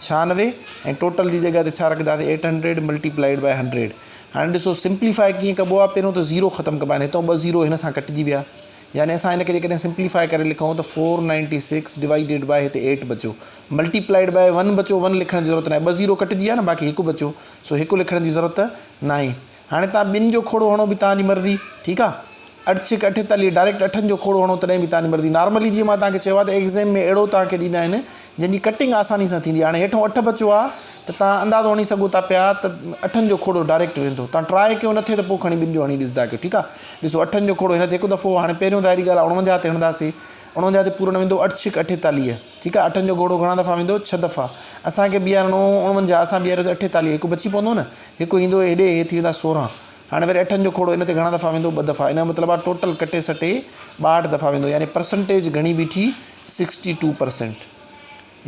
ڇهانوي ۽ total جي جڳهه تي ڇا رکنداسين eight hundred multiplied by hundred هاڻي ڏسو سمپليفائي ڪيئن ڪبو آهي پهريون ته زيرو ختم ڪبا آهن هتو ٻه زيرو هن سان ڪٽجي ويا يعني اسان هن کي جيڪڏهن سمپليفائي ڪري لکون ته four ninety six divided by هتي ايٽ بچو ملٽي پلائيڊ بائي ون بچو ون لکڻ جي ضرورت ناهي ٻه زيرو ڪٽجي ويا نه باقي هڪ بچو سو هڪ لکڻ جي ضرورت ناهي هاڻي تان ٻن جو کوڙو هڻو به تان جي مرضي ٺيڪ آهي اٺ ڇڪ اٺ تالي ڊائريڪٽ اٺن جو کوڙو هڻو تڏهن به تاني مرضي نارملي جيئن مان توهانکي چيو آهي ته ايگزيم ۾ اهڙو توهانکي ڏيندا آهن جنهن جي ڪٽنگ آساني سان ٿيندي هاڻي هيٺون اٺ بچو آهي ته توهان اندازو هڻي سگهو ٿا پيا ته اٺن جو کوڙو ڊائريڪٽ ويندو توهان ٽرائي ڪيو نٿي ته پوء کڻي ٻن جو هڻي ڏسندا ڪيو ٺيڪ آهي ڏسو اٺن جو کوڙو هن تي هڪ دفعو هاڻي پهريون ظاهري ڳالهه آهي اڻونجاهه تي هڻنداسي اڻونجاهه تي پورڻ ويندو اٺ ڇڪ اٺيتاليهه ٺيڪ آهي اٺن جو گهوڙو گهڻا دفعا ويندو ڇهه دفعا اسانکي بيهارڻو اڻونجاهه اسان بيهاريو اٺيتاليهه هڪ بچي پوندو نه هڪ ايندو هيڏي هي ٿي ويندا سورهن هاڻي وري اٺن جو کوڙو ان تي گهڻا دفعا ويندو؟ ٻه دفعا. ان جو مطلب آهي ٽوٽل ڪٽي سٽي ٻاهٺ دفعا ويندو يعني پرسنٽيج گهڻي بيٺي سڪسٽي ٽو پرسنٽ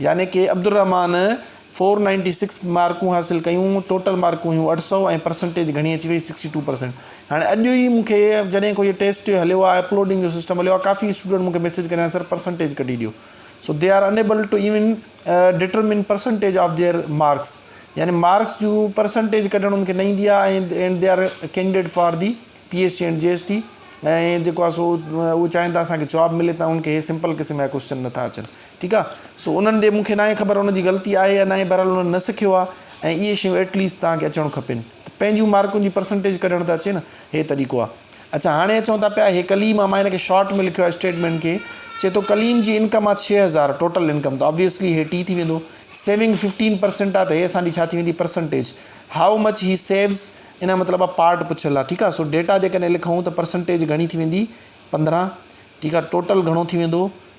يعني ڪي عبدالرحمان فور نائنٽي سڪس مارڪون حاصل ڪيون ٽوٽل مارڪون هيون اٺ سؤ ۽ پرسنٽيج گهڻي اچي وئي سڪسٽي ٽو پرسنٽ هاڻي اڄ ئي مون کي جڏهن کو هي ٽيسٽ هليو آهي اپلوڊنگ جو سسٽم هليو آهي ڪافي اسٽوڊنٽ مون کي ميسيج ڪريان سر پرسنٽيج ڪڍي ڏيو so they are enable to even determine percentage of their marks يعني مارڪس جون پرسنٽيج ڪڍڻ ان کي نه ايندي آهي ۽ and they are candidate for the P S C and G S T ۽ جيڪو آهي سو اهو چاهين ٿا اسانکي جواب ملي ته ان کي هي سمپل قسم جا ڪوشچن نٿا اچن ٺيڪ آهي سو انهن جي مونکي ناهي خبر ان جي غلطي آهي يا ناهي بهرحال انهن نه سکيو آهي ۽ اهي شيون ايٽليسٽ توهان کي اچڻ کپين ته پنهنجون مارڪن جي پرسنٽيج ڪڍڻ ته اچي نه هي طريقو آ اڇا هاڻي اچون ٿا پيا هي ڪليم آ مان هن کي شارٽ ۾ لکيو آ اسٽيٽمينٽ کي چي ٿو ڪليم جي انڪم آ ڇهه هزار ٽوٽل انڪم ته آبويسلي هي ٽي ٿي ويندو سيونگ ففٽين پرسنٽ آ ته هي اسان جي ڇا ٿي ويندي پرسنٽيج هائو مچ هي سيوز ان جو مطلب آ پارٽ پڇيل آ ٺيڪ آ سو ڊيٽا جيڪڏهن لکون ته پرسنٽيج گهڻي ٿي ويندي پندرهن ٺيڪ آ ٽوٽل گهڻو ٿي ويندو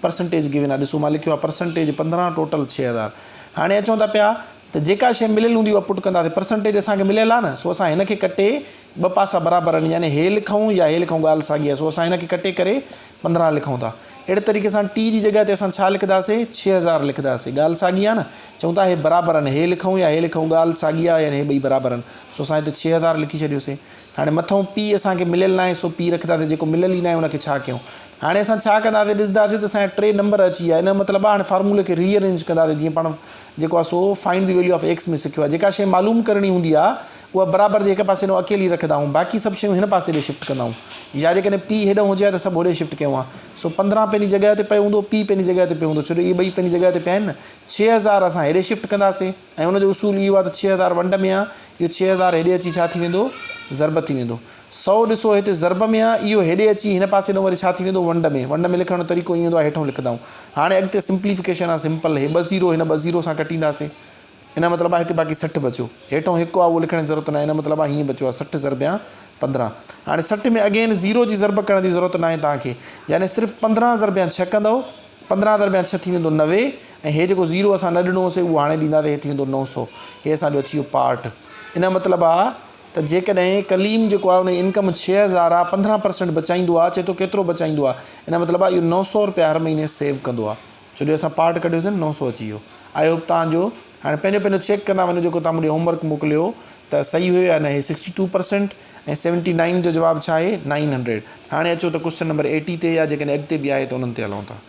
پرسنٽيج گيون آهي ڏسو مان لکيو آهي پرسنٽيج پندرهن ٽوٽل ڇهه هزار هاڻي اچون ٿا پيا ته جيڪا شيء مليل هوندي اها پٽ ڪنداسين پرسنٽيج اسان کي مليل آهي نه سو اسان هن کي ڪٽي ٻه پاسا برابر آهن يعني هي لکون يا هي لکون ڳالهه ساڳي آهي سو اسان هن کي ڪٽي ڪري پندرهن لکون ٿا اهڙي طريقي سان ٽي جي جڳهه تي اسان ڇا لکنداسين ڇهه هزار لکنداسين ڳالهه ساڳي آهي نه چون ٿا هي برابر آهن هي لکون يا هي لکون ڳالهه ساڳي آهي يعني هي ٻئي برابر آهن سو اسان هتي ڇهه هزار لکي ڇڏيوسين هاڻي مٿئون پي اسان کي مليل ناهي سو پي رکنداسين جيڪو مليل ئي ناهي ان کي ڇا ڪيون هاڻي اسان ڇا ڪنداسين ڏسنداسين ته اسان جا ٽي نمبر اچي ويا ان جو مطلب هاڻي فارمولي کي ري ارينج ڪنداسين جيئن پاڻ جيڪو آهي سو find the value of x ۾ سکيو آهي جيڪا شيء معلوم ڪرڻي هوندي آهي اها برابر جي هڪ پاسي ڏانهن اڪيلي رکندا آهيون باقي سڀ شيون هن پاسي ڏي شفٽ ڪندا آهيون يا جيڪڏهن پي هيڏانهن هجي ها ته سڀ هوڏي شفٽ ڪيون ها سو پندرهن پنهنجي جڳهه تي پيو هوندو پي پنهنجي جڳهه تي پيو هوندو ڇو جو اهي ٻئي پنهنجي جڳهه تي پيا آهن نه ڇهه هزار اسان هيڏي شفٽ ڪنداسين ۽ ان جو اصول اهو آهي ته ڇهه هزار ونڊ ۾ آهي، اهو ڇهه هزار هيڏي اچي ڇا ٿي ويندو؟ ضرب ٿي ويندو. سؤ ڏسو هتي ضرب ۾ آهي، اهو هيڏي اچي هن پاسي ڏانهن وري ڇا ٿي ويندو؟ ونڊ ۾. ونڊ ۾ لکڻ جو طريقو ائين هوندو آهي، هيٺئون لکندائون. هاڻي اڳتي سمپليفڪيشن آهي، سمپل. هي ٻه زيرو هن ٻه زيرو سان ڪٽينداسين. ان جو مطلب آهي هتي باقي سٺ بچيو. هيٺئون هڪ آهي اهو لکڻ جي ضرورت ناهي، ان جو مطلب آهي هيئن بچيو آهي سٺ ضربيان پندرهن. هاڻي سٺ ۾ اگين زيرو جي ضرب ڪرڻ جي ضرورت ناهي توهان کي، يعني صرف پندرهن ضربيان ڇهه ڪندئو. پندرهن درميان ڇهه ٿي ويندو نوي ۽ هي جيڪو زيرو اسان نه ڏنو هوسي اهو هاڻي ڏيندا ته هي ٿي ويندو نو سو هي اسان جو اچي ويو پارٽ ان جو مطلب آ ته جيڪڏهن ڪليم جيڪو آ ان جي انڪم ڇهه هزار آ پندرهن پرسنٽ بچائيندو آ چي ٿو ڪيترو بچائيندو آ ان جو مطلب آ اهو نو سو روپيا هر مهيني سيو ڪندو آ ڇو جو اسان پارٽ ڪڍيو سين نو سو اچي ويو آئي هوپ توهان جو هاڻي پنهنجو پنهنجو چيڪ ڪندا وڃو جيڪو توهان مون ڏي هوم ورڪ موڪليو ته صحيح هيو يا نه هي sixty two percent ۽ seventy nine جو جواب ڇا آهي نائن هنڊريڊ هاڻي اچو ته ڪوشچن نمبر ايٽي تي يا جيڪڏهن اڳتي به آهي ته انهن تي هلون ٿا.